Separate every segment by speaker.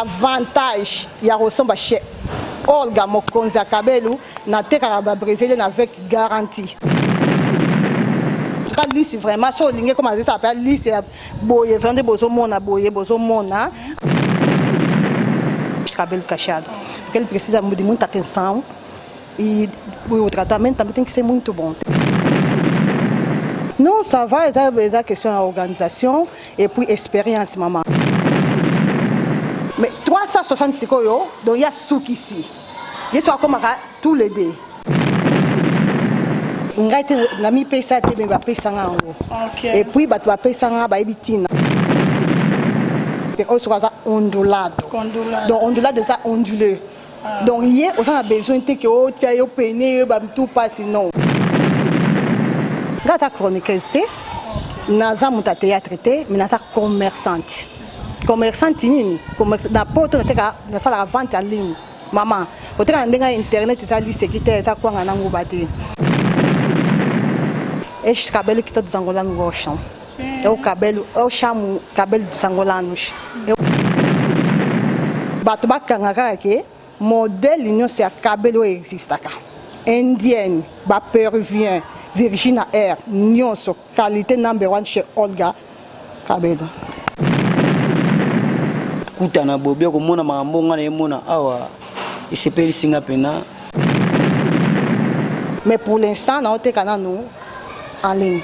Speaker 1: Avantage ya kosomba chez Olga mokonzi ya Kabelu, natekaka ba Brésilien avec garantie. ka lisi vraiment so olingi ekoma azesa mpe lisi ya boye vraiment nde bozomona boye bozomona cabelo cachado porque ele precisa de muita atenção E o tratamento também tem que ser muito bom. Non, ça va, eza, eza question ya organisation et puis expérience mama. Mais 360 sikoyo, donc ya sukisi. Yesu akomaka tous les deux. ngai te namipesa te me bapesanga yango okay. epuis bato bapesanga bayebi ntina oyo soki aza ondulado donc ondulado eza ondule Donc ye oza na besoin te ke otia yo pene yo ba mtu pasi non. Nga aza chroniqueuse te naza moto ya théâtre te mais naza commerçante commerçante nini na poto nateka nasalaka vente ya ligne mama koteka na ndenge ya internet eza liseki te eza kwanga na nguba te eshkabeli kitoto zangola ngosho É o cabelo, eu chamo cabelo dos angolanos. Eu... Bato bakanga kaka ke modèle nyonso ya cabelo oyo existaka. Indienne, ba peruvien, Virginia Air, nyonso qualité number one chez Olga Cabelo.
Speaker 2: Kuta na Bobi okomona makambo nga na ye mona awa. esepelisi nga pena
Speaker 1: mais pour l'instant naoteka nanu en ligne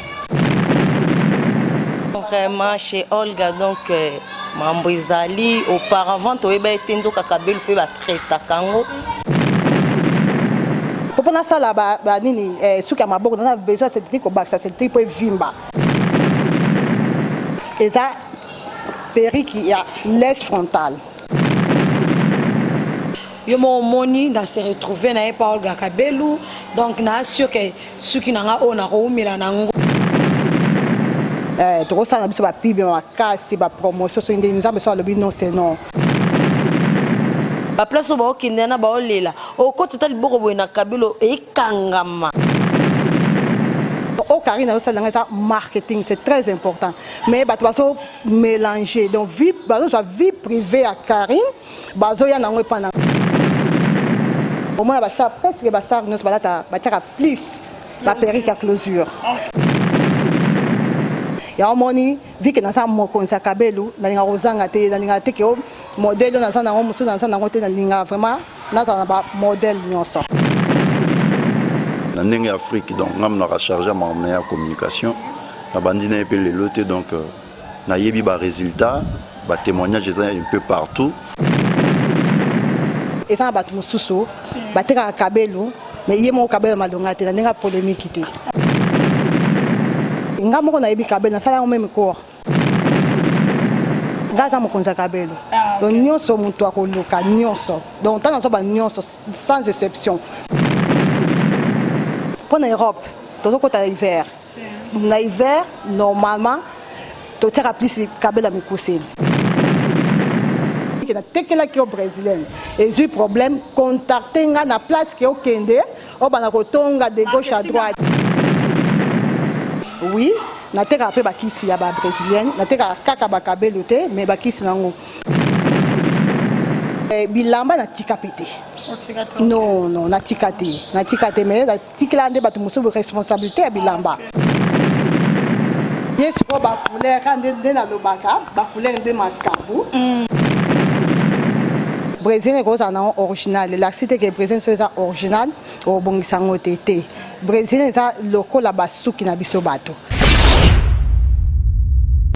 Speaker 3: vraiment chez olga donc euh, mambo ezali auparavant toyeba ete nzoka kabelu mpe batraitaka yango
Speaker 1: mpo nasala banini eh, suki ya maboko naza besoin sedri kobakisa sedri mpo evimba eza periki ya les frontale
Speaker 4: yo moko omoni na se retrouve na ye pa olga kabelu donc na assure ke suki na nga oyo nakoumela na yango eh,
Speaker 1: tokosala na biso bapibe makasi bapromotion soki ndenge nzambe so alobi non se non
Speaker 3: baplace oyo baokendela na baolela okoti ata liboko boye na kabelo ekangama
Speaker 1: o oh, karine azosalela ngai eza marketing c'est très important mais bato bazo melange donc vie bazozwa vie privée ya Carine bazoya nango epa na omona bastar presque bastar nyonso balata batiaka plus baperike ya closure ya omoni vike naza mokonzi ya kabelu nalinga kozanga te nalinga te ke oh, modele oyo naza nango mosusu naza nango te nalinga vraiment nazala na bamodele nyonso
Speaker 5: na ndenge ya afrique donc ngai monaka charge ya makambo na ya communication Nabandi na ye mpe lelo te donc euh, nayebi ba résultats, ba témoignages eza un peu partout.
Speaker 1: Eza na bato mosusu batekaka kabelo mais ye moko kabelo malonga te na ndenge ya polemiki te. Nga moko nayebi kabelo nasala yango meme cours. Nga aza mokonzi ya kabelo ah, donc nyonso moto akoluka nyonso donc ntango nazwa ba nyonso sans exception mpo na Europe tozokota hiver Na hiver normalement totiaka plus kabela mikuse. na tekelaki yo brésilienne ezui problème contacter nga na place que okende obanda kotonga de gauche à droite oui na tekaka pe bakisi ya ba brésilienne na tekaka kaka ba kabelo te mais bakisi nango eh, bilamba na tika pete non non na tika te na tika te mais Tikela nde bato mosusu responsabilite ya bilamba. Ye sikoyo ba couleur ka nde nde nalobaka ba couleur nde makambo. Brazilien ekozala na original elakisi te ke Brazilien so eza original obongisa yango te te Brazilien eza lokola basuki na biso bato.